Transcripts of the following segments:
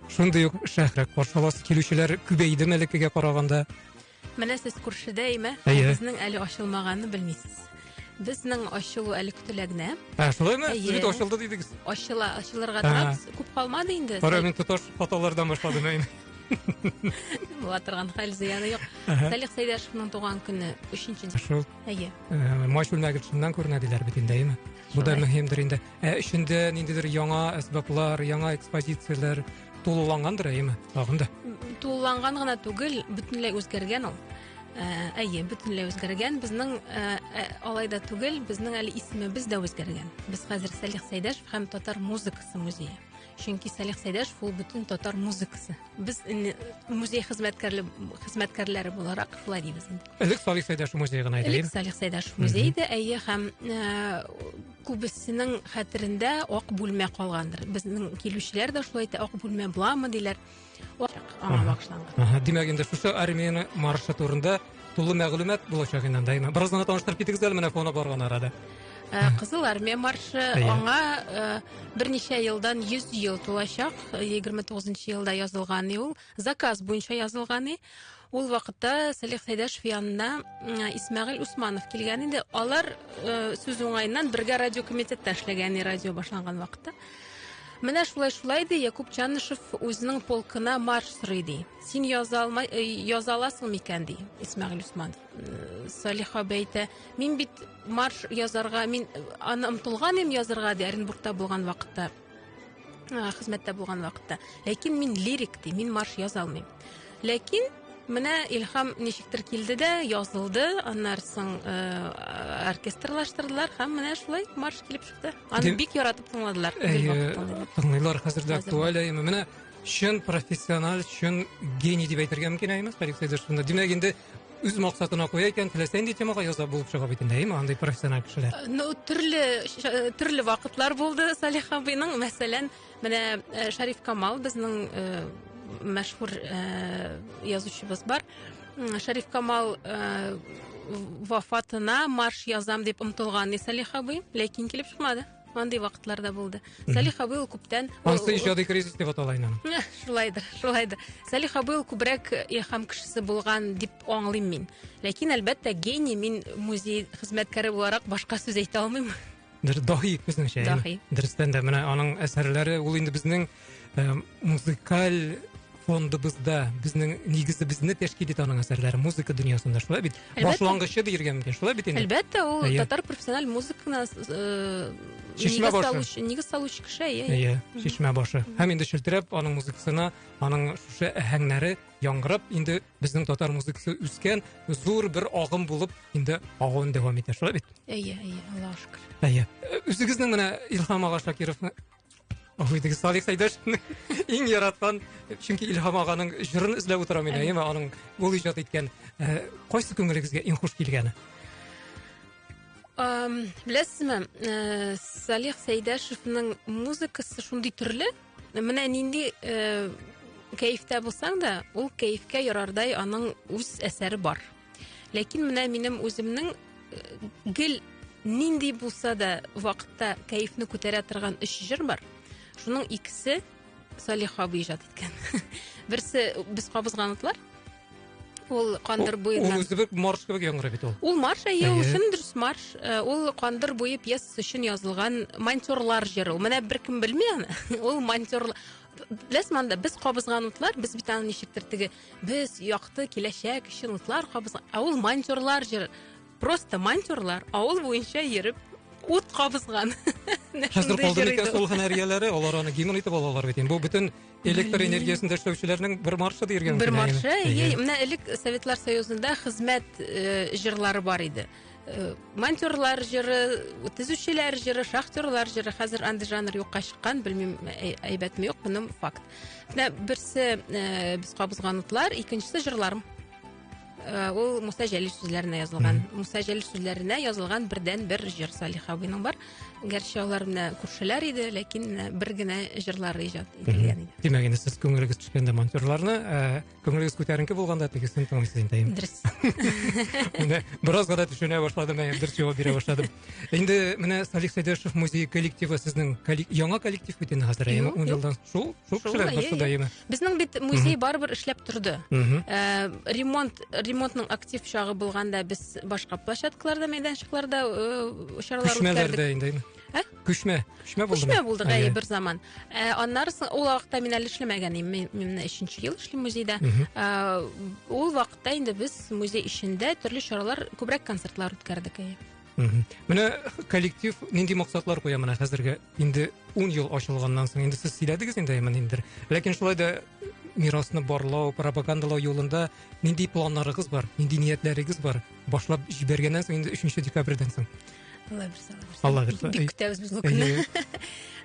Шундый ук шәһрәк каршалас килүчеләр күбәйде мәлекегә караганда. Менә сез күршедә име? Әйе. Безнең әле ачылмаганны белмисез. Безнең ачылу әле көтелә генә. Ә, шулаймы? Әйе. Сез бит ачылды дидегез. Ачыла, ачылырга Ә. тора. Без- Күп калмады инде. Кара, мин тоташ хаталардан башладым ә инде. Була торган хәл зыяны юк. Әһә. Салих Сәйдәшевның туган көне 3 декабрь. Шул Әйе. э, матч бүлмәгешеннән күренә диләр бит инде, әйеме? Бу да Шулай. мөһимдер инде. Ә эчендә ниндидер яңа әсбаплар, яңа экспозицияләр тулылангандыр, әйеме? Тагын да. Тулыланган гына түгел, бөтенләй үзгәргән ул. Ә, әйе, бөтенләй үзгәргән. Безнең ә, ә, алай да түгел, безнең әле исемебез дә үзгәргән. Без хәзер Салих Сәйдәшев һәм татар музыкасы музее. Чөнки Салих Сәйдәшев ул бөтен татар музыкасы. Без инде музей хезмәткәрле хезмәткәрләре буларак шулай дибез инде. Элек Салих Сәйдәшев музее гына иде. Элек Салих Сәйдәшев музее иде, әйе, һәм ә, Күбесенең хәтерендә ак бүлмә калгандыр. Безнең килүчеләр дә шулай әйтә, ак бүлмә буламы диләр. Аңа багышланган. Димәк, инде шушы армияне маршы турында тулы мәгълүмат булачак инде анда. Бераз гына таныштырып китегез әле менә фоны барган арада. Э, Кызыл армия маршы аңа э, берничә елдан 100 ел тулачак. 29 елда язылган ул. Заказ буенча язылган и. Ул вакытта Салих Сәйдәшев янына Исмәгыйль Усманов килгән иде. Алар э, сүз уңаеннан бергә радио комитетта эшләгән радио башланган вакытта. Менә шулай шулай ди Якуб Чанышев үзенең полкына марш сорый ди. Син яза алмай э, яза аласың микән ди Исмәгыйль Усманов. Э, Салих абый әйтә, мин бит марш язарга, мин аны омтылган идем язарга ди Оренбургта булган вакытта. хезмәттә булган вакытта ләкин мин лирик ди мин марш яза алмыйм ләкин Менә Илһам ничектер килде дә, язылды, аннар соң э, оркестрлаштырдылар һәм менә шулай марш килеп чыкты. Аны бик яратып тыңладылар. Тыңлыйлар хәзер дә актуаль әйме. Менә чын профессионал, чын гений дип әйтергә мөмкин әйме, Фәрик Сәйдәшевны. Димәк, инде үз максатына куя икән теләсә нинди темага яза булып чыга бит инде әйеме андый профессиональ кешеләр э, ну төрле э, төрле вакытлар булды салих абыйның мәсәлән менә э, шәриф камал безнең мәшһүр язучыбыз бар шәриф камал вафатына марш язам дип омтылган салих абый ләкин килеп чыкмады Андый вакытлар да булды. Салих абый ул күптән Ансы иҗади кризис дип атала инде. Шулайдыр, шулайдыр. Салих абый ул күбрәк илһам кешесе булган дип аңлыйм мин. Ләкин әлбәттә гений мин музей хезмәткәре буларак башка сүз әйтә алмыйм. Дер даһи безнеңчә. Даһи. Дөрестән дә менә аның әсәрләре ул инде безнең музыкаль фондыбызда безнең нигезе безне тәшкил итә аның әсәрләре музыка дөньясында шулай бит башлангычы диергә мөмкин шулай бит инде әлбәттә ул татар профессиональ музыканы э, шишмә башы нигез салучы кеше иә шишмә башы һәм инде челтерәп аның музыкасына аның шушы әһәңнәре яңгырап инде безнең татар музыкасы үскән зур бер агым булып инде агуын дәвам итә шулай бит әйе әйе аллаға шөкер әйе үзегезнең менә илһам ага шакировны Ой, теге Салих Сәйдәшевнең иң яраткан, чөнки Илһам аганың җырын эзләп утырам мин, әйеме, аның ул иҗат иткән. Э, кайсы күңелегезгә иң хуш килгәне? Беләсезме, э, Салих Сәйдәшевнең музыкасы шундый төрле, менә нинди э, кәефтә булсаң да, ул кәефкә ярардай аның үз әсәре бар. Ләкин менә минем үземнең э, гел нинди булса да вакытта кәефне күтәрә торган өч җыр бар. Шуның икесе Салих абый иҗат иткән. Берсе без кабызган утлар. Ул кандыр буена. Ул үзе бер марш кебек яңгырый бит ул. Ул марш әйе, ул чын дөрес марш. Э, ул кандыр буе пьесасы өчен язылган монтерлар җыры. Менә беркем белми аны. Ул монтерлар. Ләс манда без кабызган утлар, без бит аны ничектер теге Без якты киләчәк өчен утлар кабыз. Ә ул монтерлар җыр. Просто монтерлар авыл буенча йөреп ут кабызган. Хәзер калды микән шул һөнәр ияләре? Алар аны гимн итеп алалар бит. Бу бөтен электр энергиясендә эшләүчеләрнең бер маршы дигән. Бер маршы. Менә элек Советлар Союзында хезмәт э, җырлары бар иде. Э, монтерлар җыры төзүчеләр җыры шахтерлар җыры хәзер андый жанр юкка чыккан белмим э, әйбәтме юк моным факт менә берсе э, без кабызган утлар икенчесе җырларым ул муса җәлил сүзләренә язылган муса җәлил сүзләренә язылган бердән бер җыр салих абыйның бар гәрчә алар менә күршеләр иде ләкин бер генә җырлары иҗат ителгән иде димәк инде сез күңелегез төшкәндә монтерларны Күңелегез күтәренке булганда тегесен тыңлыйсыз инде. Дөрес. Менә беразга да төшенә башладым, әйе, дөрес җавап бирә башладым. Инде менә Салих Сәйдәшев музей коллективы сезнең яңа коллектив бит инде хәзер, әйеме? 10 елдан шул, шул кешеләр барсы да, әйеме? Безнең бит музей барыбер эшләп торды. Э, ремонт, ремонтның актив чагы булганда без башка площадкаларда, мәйданчыкларда э, чаралар үткәрдек. Күчмәләрдә инде, әйеме? Ә? Күчмә. Күчмә булды. Күчмә булды гае бер заман. Ә, аннары ул вакытта мин әле эшләмәгән идем. Мин, мин менә 3 ел эшлим музейда. Ә, ул вакытта инде без музей эчендә төрле чаралар, күбрәк концертлар үткәрдек. Әйе. Менә коллектив нинди максатлар куя менә хәзергә инде 10 ел ачылганнан соң инде сез сөйләдегез инде әймән инде. Ләкин шулай да мирасны барлау, пропагандалау юлында нинди планнарыгыз бар, нинди ниятләрегез бар? Башлап җибәргәннән соң инде 3 декабрьдән соң. Алла бирсә, Алла бирсә. Бик көтәбез без бу көнне.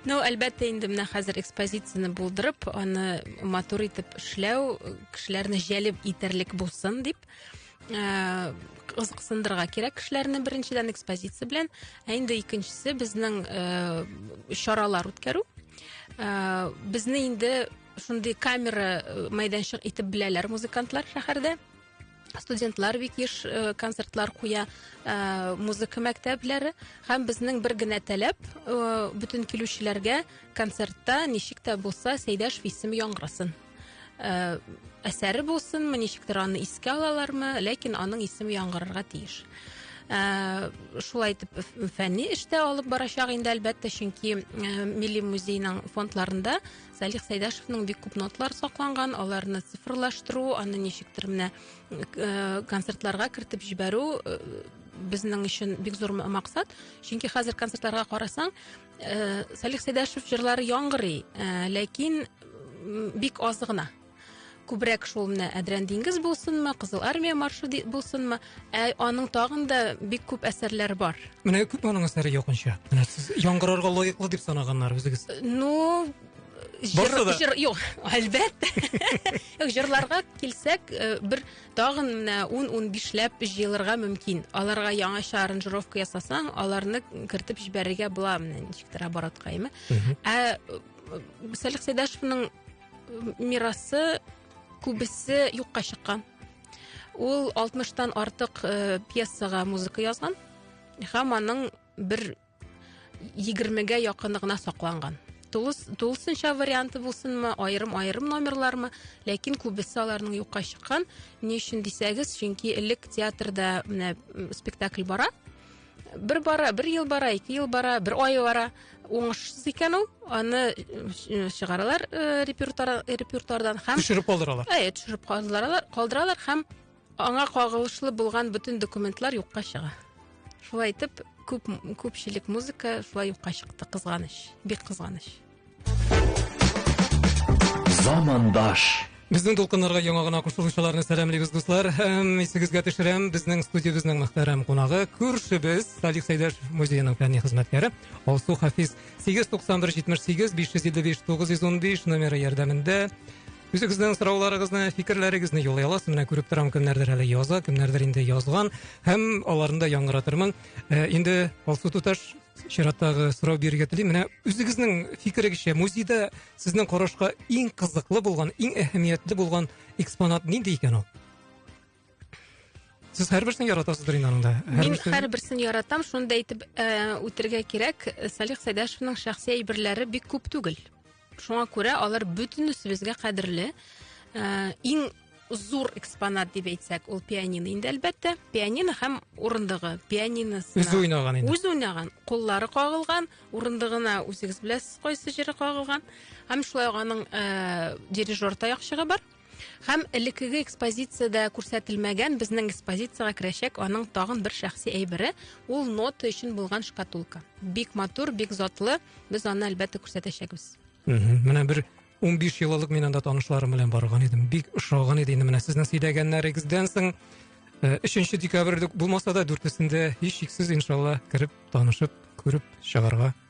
Ну, әлбәттә, инде менә хәзер экспозицияне булдырып, аны матур итеп эшләү, кешеләрне җәлеп итәрлек булсын дип, э, кызыксындырырга кирәк кешеләрне беренчедән экспозиция белән, ә инде икенчесе безнең э, чаралар үткәрү. Э, безне инде шундый камера э, мәйданчык итеп беләләр музыкантлар шәһәрдә. студентлар бик еш э, концертлар куя э, музыка мәктәпләре һәм безнең бер генә таләп э, бөтен килүчеләргә концертта ничек тә булса сәйдәш исеме яңгырасын әсәре булсынмы ничектер аны искә алалармы ләкин аның исеме яңгырарга тиеш шулай итеп фәнни эштә алып барачак инде әлбәттә чөнки милли музейның фондларында Салих Сайдашевның бик күп нотлар сакланган, аларны цифрлаштыру, аны ничектер менә э, концертларга кертеп җибәрү э, безнең өчен бик зур максат. Чөнки хәзер концертларга карасаң, э, Салих Сайдашев җырлары яңгырый, ләкин бик аз гына. күбрәк шул менә әдрән диңгез булсынмы кызыл армия маршы булсынмы ә аның тагын да бик күп әсәрләре бар менә күп аның әсәре якынча менә сез яңгырарга лаеклы дип санаганнар үзегез ну жыр, жыр юк әлбәттә жырларга килсәк э, бер тагын менә ун ун бишләп җыелырга мөмкин аларга яңача аранжировка ясасаң аларны кертеп җибәрергә була менә ничектер оборотка әйме ә э, сәлих сәйдәшевның мирасы күбесе юкка чыккан ул алтмыштан артык э, пьесага музыка язган һәм аның бер егермегә якыны гына сакланган тулысынча варианты булсынмы айрым айрым номерлармы ләкин күбесе аларның юкка чыккан ни өчен дисәгез чөнки элек театрда менә спектакль бара бер бара бер ел бара ике ел бара бер ай бара уңышсыз икән ул аны э, чыгаралар э, репертуар, репертуардан һәм төшереп калдыралар әйе төшереп калдыралар калдыралар һәм аңа кагылышлы булган бөтен документлар юкка чыга шулай итеп күп күпчелек музыка шулай юкка чыкты кызганыч бик кызганыч Замандаш. Безнең дулкыннарга яңа гына кушылучыларны сәламлибез, дуслар. Һәм исегезгә төшерәм, безнең студиябезнең мөхтәрәм кунагы, күршебез, Салих Сәйдәш музееның фәнни хезмәткәре Алсу Хафиз. 891-78-555-915 номеры ярдәмендә Үзегезнең сорауларыгызны, фикерләрегезне юллый аласыз. Менә күреп торам, кемнәрдер әле яза, кемнәрдер инде язган. Һәм аларны да яңгыратырмын. Ә, инде Алсу туташ, чираттагы сорау бирергә телим менә үзегезнең фикерегезчә музейда сезнең карашка иң кызыклы булган иң әһәмиятле булган экспонат нинди икән ул сез һәрберсен яратасыздыр инде аның да мин һәрберсен яратам шуны да әйтеп үтәргә кирәк салих сәйдәшевның шәхси әйберләре бик күп түгел Шуңа күрә алар бөтенесебезгә кадерле. Э, иң зур экспонат дип әйтсәк, ул пианино инде әлбәттә. Пианино һәм урындыгы. Пианиносы. Үзе уйнаган инде. Үзе уйнаган. Куллары кагылган, урындыгына үзегез беләсез кайсы җире кагылган. Һәм шулай аның э, дирижер таякчыгы бар. Һәм элеккеге экспозициядә күрсәтелмәгән безнең экспозициягә керәчәк аның тагын бер шәхси әйбере, ул нота өчен булган шкатулка. Бик матур, бик затлы. Без аны әлбәттә күрсәтәчәкбез. Менә бер 15 ел элек мин анда танышларым белән барган идем. Бик ошаган иде инде менә сезнең сөйләгәннәрегездән соң. Э, өченче декабрьдә булмаса да дүртесендә һичшиксез иншалла кереп танышып күреп чыгарга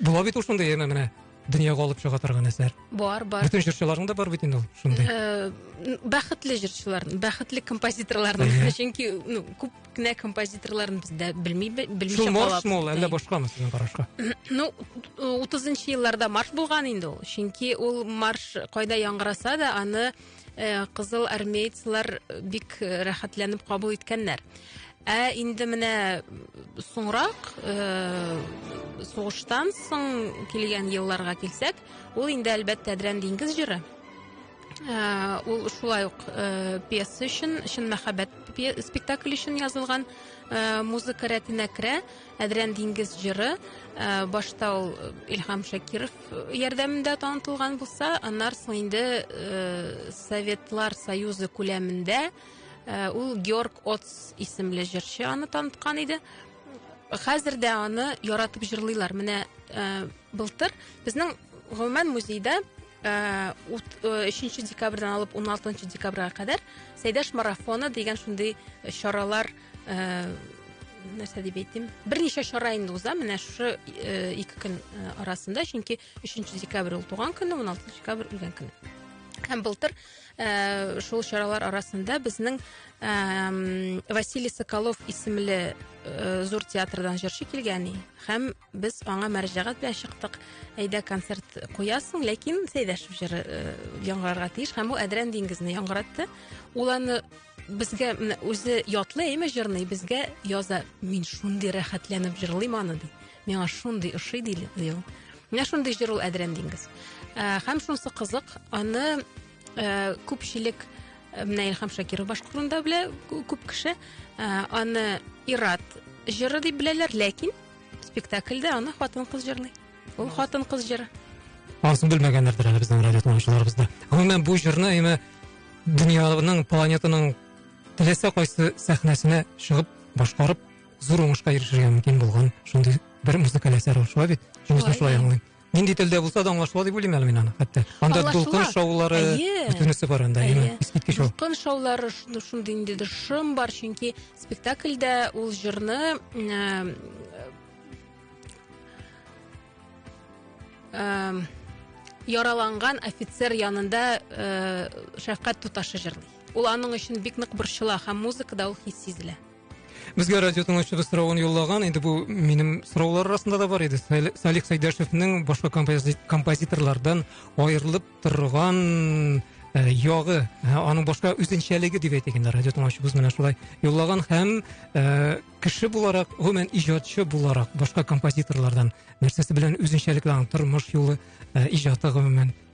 Була бит ул шундый яна менә дөньяга алып чыга торган әсәр. Бар, бар. Бүтән җырчыларның да бар бит инде ул шундый. Э, бәхетле җырчыларның, бәхетле композиторларның, чөнки ну күп кенә композиторларын без дә белми белмичә калабыз. Шул марш мул, әллә башкамы сезнең карашка? Ну 30 нчы елларда марш булган инде ул, чөнки ул марш кайда яңгыраса да аны Э, кызыл армейцлар э, бик э, рәхәтләнеп кабул иткәннәр ә инде менә соңрак сугыштан соң килгән елларга килсәк ул инде әлбәттә әдрән диңгез җыры ул шулай ук пьеса өчен чын мәхәббәт спектакль өчен язылган музыка рәтенә керә Әдрән диңгез җыры башта ул Илһам Шакиров ярдәмендә танытылган булса, аннар соң инде Советлар Союзы күләмендә ул Георг Отс исемле җырчы аны таныткан иде. Хәзер дә аны яратып җырлыйлар. Менә былтыр безнең гомумән музейда 3 декабрьдән алып 16 декабрьгә кадәр Сәйдәш марафоны дигән шундый чаралар Э, нәрсә дип әйтим берничә чара инде уза менә шушы э, ике көн э, арасында чөнки өченче декабрь ул туган көне он алтынчы декабрь үлгән көне һәм былтыр ә, шул чаралар арасында безнең ә, Василий Соколов исемле ә, зур театрдан җырчы килгән һәм Без аңа мәрҗәгать белән чыктык. Әйдә концерт куясың, ләкин Сәйдәшев җыры э, яңгырарга тиеш һәм бу Әдрән диңгезне яңгыратты. Ул аны безгә менә үзе ятлый әйме җырны, безгә яза. Мин шундый рәхәтләнеп җырлыйм аны ди. Миңа шундый ошый ди ул. Менә шундый җыр ул Әдрән диңгез. Э, һәм шунсы кызык, аны э, күпчелек менә Илһам Шакиров башкарганда белә күп кеше. Аны Ират җыры дип беләләр, ләкин Спектакльдә аны хатын-кыз җырлый. Ул хатын-кыз җыры. Барысын белмәгәннәрдер әле безнең радио тыңлаучыларыбыз да. Гомумән бу җырны әйме дөньяның, планетаның теләсә кайсы сәхнәсенә чыгып, башкарып, зур уңышка ирешергә мөмкин булган шундый бер музыкаль әсәр ул, шулай бит? Җөмбез дә шулай аңлыйм. Нинди телдә булса да аңлашыла дип уйлыйм әле мин аны хәтта. Анда дулкын шаулары бөтенесе бар анда, әйе. Искиткеч ул. Дулкын шаулары шундый инде дә шым бар, чөнки спектакльдә ул җырны э, э, яраланган офицер янында э, шәфкать туташы җырлый. Ул аның өчен бик нык борчыла һәм музыкада ул хис сизелә. Безгә радио тыңлаучыбыз соравын юллаган. Инде бу минем сораулар арасында да бар иде. Салих Сәйдәшевнең башка композиторлардан аерылып торган э, ягы, э, аның башка үзенчәлеге дип әйтик инде радио тыңлаучыбыз менә шулай юллаган һәм э, кеше буларак, гомумән иҗатчы буларак башка композиторлардан нәрсәсе белән үзенчәлекле аның тормыш юлы, иҗаты гомумән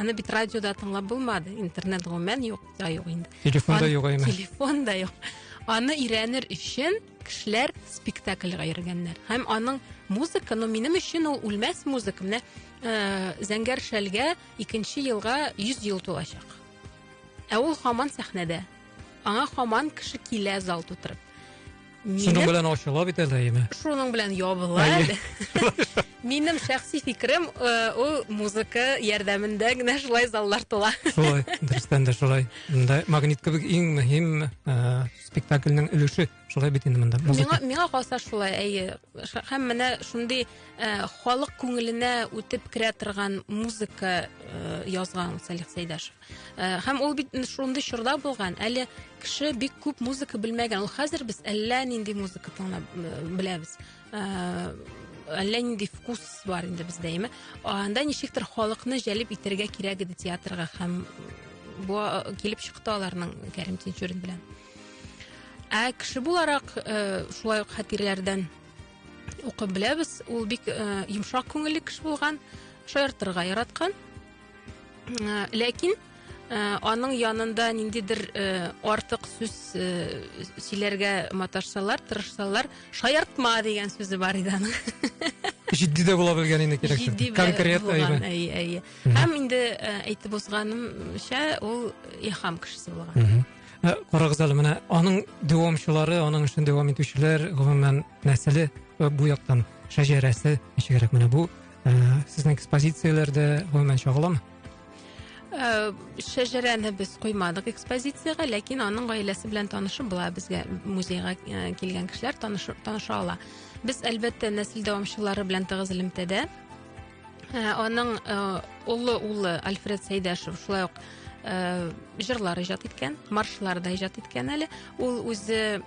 Аны бит радиода тыңлап булмады. Интернет гомумән юк, да юк инде. Телефон да юк әйме. Телефон да юк. Аны өйрәнер өчен кешеләр спектакльга йөргәннәр. Һәм аның музыка, ну минем өчен ул үлмәс музыка. Менә э, Зәңгәр шәлгә икенче елга 100 ел тулачак. Ә ул хаман сәхнәдә. Аңа хаман кеше килә зал тутырып. Шуның белән ачыла бит әле әйеме? Шуның белән ябыла әле. Минем шәхси фикерем, э, ул музыка ярдәмендә генә шулай заллар тула. Шулай, дөрестән дә шулай. Монда магнит кебек иң мөһим э, спектакльнең өлеше шулай бит инде монда. Миңа миңа калса шулай, әйе. Һәм менә шундый э, халык күңеленә үтеп керә торган музыка язган Салих Сәйдәшев. Э, һәм ул бит шундый чорда булган әле кеше бик күп музыка белмәгән ул хәзер без әллә нинди музыка тыңлап э, беләбез э, әллә нинди вкус бар инде бездә яме анда ничектер халыкны җәлеп итәргә кирәк иде театрга һәм бу килеп чыкты аларның кәрим тинчурин белән ә кеше буларак шулай ук хатирәләрдән укып беләбез ул бик йомшак күңелле кеше булган шаяртырга яраткан Э, ләкин э, аның янында ниндидер э, артык сүз сөйләргә маташсалар тырышсалар шаяртма дигән сүзе бар иде аның җитди дә була белгән инде кирәксез конкрет әйе әйе һәм инде әйтеп узганымча ул ихам кешесе булган карагыз әле менә аның дәвамчылары аның эшен дәвам итүчеләр гомумән нәселе бу яктан шәҗәрәсе ничегрәк менә бу ә, сезнең экспозицияләрдә гомумән чагыламы Э, шәҗәрәне без куймадык экспозициягә ләкин аның гаиләсе белән танышып була безгә музейга э, килгән кешеләр таныша ала без әлбәттә нәсел дәвамчылары белән тыгыз элемтәдә э, аның олы улы альфред сәйдәшев шулай ук җырлар иҗат иткән маршлар да иҗат иткән әле ул үзе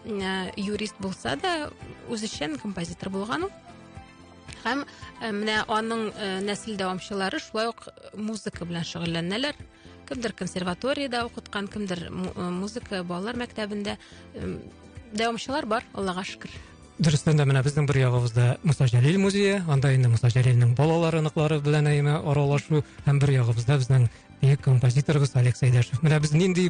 юрист булса да үзешчән композитор булган ул Һәм э, менә аның э, нәсел дәвамчылары шулай ук музыка белән шөгыльләнәләр. Кемдер консерваториядә укыткан, кемдер музыка балалар мәктәбендә. Дәвамчылар бар, Аллага шөкер. Дөрестән дә менә безнең бер ягыбызда Муса Җәлил музее, анда инде Муса Җәлилнең балалары, ныклары белән әйме аралашу, һәм бер ягыбызда безнең бөек композиторыбыз Олег Сәйдәшев. Менә без нинди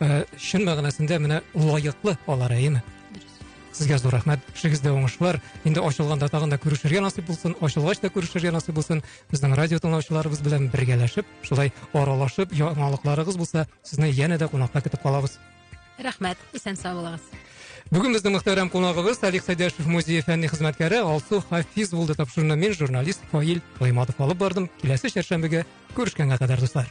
Ә, шын мәгънәсендә менә лаеклы алар, әйеме? Сезгә зур рәхмәт. Эшегездә уңышлар. Инде ачылганда тагын да күрешергә насыйп булсын, ачылгач та күрешергә насыйп булсын. Безнең радио тыңлаучыларыбыз белән бергәләшеп, шулай аралашып, яңалыкларыгыз булса, сезне янә дә кунакка көтеп калабыз. Рәхмәт. Исән сау булыгыз. Бүген безнең мөхтәрәм кунагыбыз Салих Сәйдәшев музее фәнни хезмәткәре Алсу Хафиз булды тапшыруны мин журналист Фаил Гыйматов алып бардым. Киләсе чәршәмбегә күрешкәнгә кадәр дуслар.